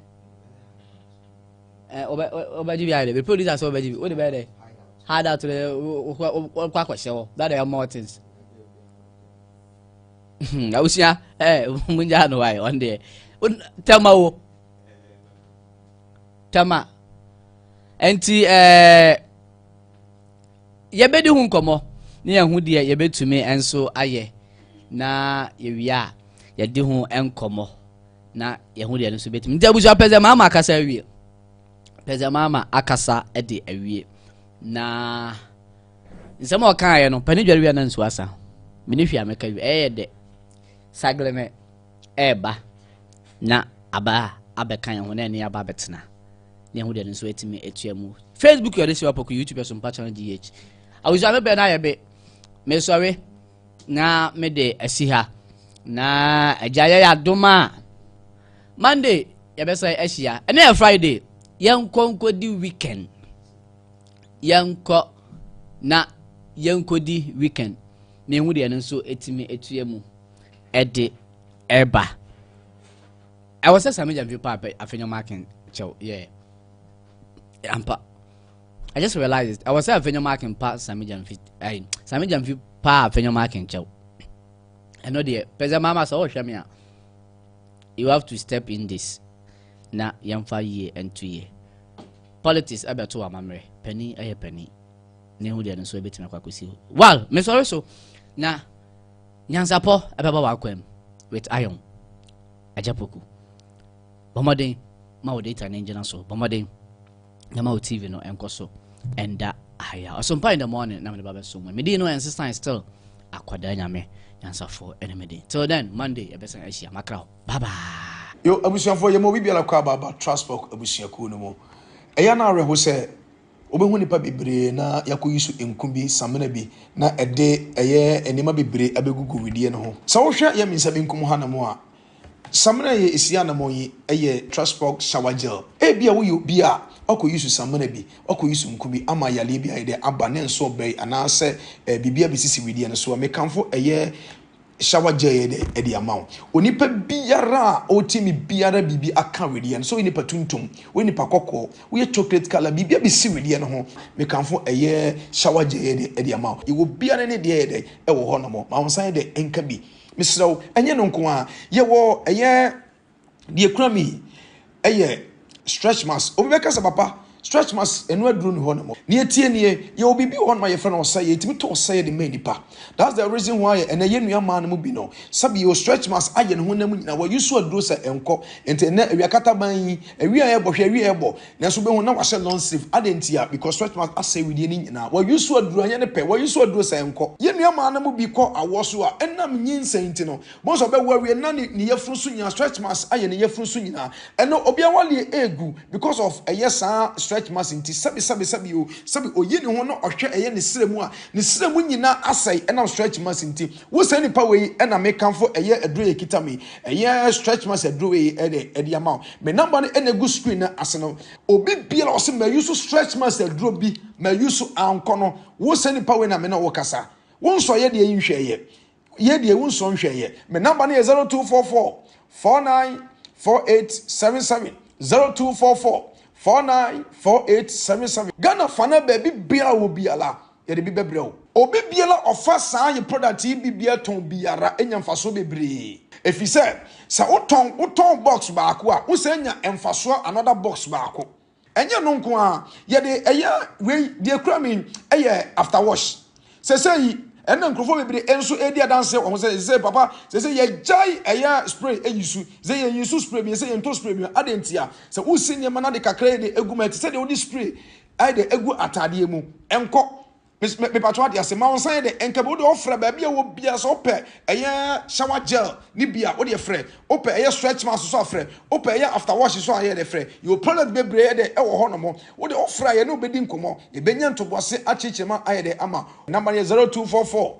Eh, obe obe jibi ayɛ dɛ. Be producer sɛ obe jibi. Wo de bɛ dɛ. Hard out dɛ, wo kwa kwa kwa hyɛ hɔ. That are more things. awusua ɛɛ mo n gyaa no wae ɔn deɛ tɛma wo tɛma nti ɛɛ yɛbɛdi ho nkɔmɔ ne yɛn ho deɛ yɛbɛtumi nso ayɛ na yɛwie a yɛde ho nkɔmɔ na yɛn ho deɛ no nso bɛtumi nti abusua pɛsɛ maama akasa awie pɛsɛ maama akasa de awie na. Nsɛm a ɔkaeɛ no, pɛ ne dware wie a na nsuo asa. Me ne hwee a mɛka wie. Ɛyɛ dɛ. Sagle no ɛreba na aba abɛka yɛn ho na ɛne aba abɛtena. Na ɛho deɛ no nso atumi atua mu. Facebook yɛ ɔde si wapɔko YouTube yɛ so mpa channel DH. Awusua me bɛn ayɛ be. Mesɔre na me de asi ha. Na agya yɛ yɛ adom a. Monday yɛbɛsɛ ahyia. Ɛnɛ yɛ Friday. Yɛnkɔ nkɔdi weekend. yɛnkɔ na yɛnkɔdi weekend na ɛhu deɛ no nso ɛtumi ɛtua mu ɛde ɛba ɛwɔ sɛ saa megya mfi pa afɛnya marking kyɛw yɛ ampa I just realized ɛwɔ sɛ afɛnya marking pa saa megya mfi ɛyi saa megya mfi pa afɛnya marking kyɛw ɛno deɛ pɛsɛ maama sɛ ɔhwɛ me a you have to step in this na yɛmfa yie ɛnto yie Politics ɛbɛto amammerɛ. Panin ɛyɛ panin. Ne ho deɛ no nso ɛbɛtumi akɔ akɔsi hɔ. Wal, mesɔre so na nyansapɔ ɛbɛba w'akwam with iron. Agya Poku. Bɔ mmɔden ma wo data no ngyina so. Bɔ mmɔden na ma wo TV no ɛnkɔ so ɛnda ahaya. Ɔsompa in the morning na mede ba bɛso mu. Medin no ɛnsesan still akwadaa nyame nyansafoɔ ɛne medin. Till then, Monday ɛbɛsan ahyia makra hɔ. Bye bye. Yo abusuafoɔ yɛma obi biara kɔ abaaba Trustbox abusuakuo no mu. Ɛyɛ no awerɛho sɛ wobɛhu nnipa bebree na yɛakɔyi so nku bi, samina bi na ɛde ɛyɛ nneɛma bebree abɛgugu wedeɛ no ho. Sɛ wohwɛ yɛ mensa benkum ha nom a, samina a ɛsi anamɔn yi yɛ Trustbox Shower Gel. Ebia woyɛ obi a woakɔyi so samina bi, woakɔyi so nku bi ama yareɛ bi ayɛ dɛ aba ne nso ɔbɛn anaasɛ biribi abɛsisi wedeɛ no so a, mekamfo ɛyɛ Shower gel yɛ dɛ ɛde ama wo. Onipa biara a ɔwɔ timi biara biribi aka wedeɛ no. Sɛ woyɛ nipa tuntum, woyɛ nipa kɔkɔɔ, woyɛ chocolate colour, biribi abɛsi wedeɛ no ho. Mekamfo ɛyɛ shower gel yɛ dɛ ɛde ama wo. Yɛwɔ biara ne deɛ yɛ dɛ ɛwɔ hɔ nom. Mawo nsa yɛ dɛ nka bi. Mesrɛ wo, ɛnyɛ no nko ara. Yɛwɔ ɛyɛ deɛ ekura mi yɛ stretch marks obi bɛka sɛ papa stretch marks ɛno aduro ni hɔ nom nea etie nie yɛ obi bi wɔ hɔ nom a yɛfrɛ no ɔsɛ yɛ etimi to ɔsɛ yɛ de mɛ nipa that's the reason why ɛnɛ yɛ nua maa no mu bi no sɛbi yɛ stretch marks ayɛ ne ho nam nyinaa wɔyi so aduro sɛ ɛnkɔ nti ɛnɛ awia kata ban yi awia yɛ bɔ hwɛ awia yɛ bɔ nanso bɛhu na wahyɛ long sleeve ade nti a because stretch marks asɛ widie ne nyinaa wɔyi so aduro anyɛ ne pɛ wɔyi so aduro sɛ ɛnkɔ yɛ nua maa no mu bi kɔ awɔ so a ɛnam nyinsɛn nti no Bohu sɛ ɔbɛwo awie na ne ne yafunu so nyinaa stretch marks ayɛ ne yafunu so nyinaa. Ɛno obi awareɛ ɛɛgu because of ɛyɛ saa stretch marks nti. Sɛbi sɛbi sɛbi o sɛbi oyi ne ho na ɔhwɛ ɛyɛ ne srɛ mu a ne srɛ mu nyinaa asɛe ɛnam stretch marks nti. Wo saa nipa wei na me kamfo ɛyɛ aduro yi ɛkita me yi ɛyɛ stretch marks aduro wei ɛde ɛde ama wo. Me number no ɛna ɛgu screen no ase no. Obi biara a ɔse ma use stretch marks aduro bi ma use ankɔ no wo saa nipa wei na me ne wo kasa. Wo nsɔeɛ deɛ yi nhwɛeɛ. yɛ deɛ ewu nso nhwɛ yɛ me namba no yɛ zero two four four four nine four eight seven seven zero two four four four nine four eight seven seven ghana fana baabi biara wɔ biara yɛde bi bɛbrɛ o obi biara ɔfa saa yɛ product yi bi biara tɔn biara enya nfasoɔ bebree efi sɛ sɛ wotɔn wotɔn box baako a wosɛ nya nfasoɔ another box baako Ɛnyɛ ɛno nko ara, yɛde ɛyɛ wei deɛ kura mi ɛyɛ after wash. Sɛsɛ yi ɛna nkurɔfoɔ bebree ɛnso ɛredi adanseɛ wɔn sɛ sɛ papa sɛsɛ yɛgyae ɛyɛ spray ɛyi su sɛ yɛn yi su spray mi sɛ yɛn to spray mi ade ntia sɛ wosi nneɛma na de kakra ɛde egu mu ɛte sɛ deɛ wode spray ɛde egu ataadeɛ mu ɛnkɔ Mes me mepato ade ase ma wo nsan de nka bi wo de ɔfrɛ baabi a wɔ bia sɛ wopɛ ɛyɛ shower gel ne bia wo de frɛ wopɛ ɛyɛ stretch mask so afrɛ wopɛ ɛyɛ after wash so ayɛ de frɛ yɛ product bebree de ɛwɔ hɔ nom wo de ɔfrɛ ayɛ ne obedi nkɔmɔ yɛbɛnya ntoboase akyerɛkyerɛ ma ayɛ de ama number yɛ 0244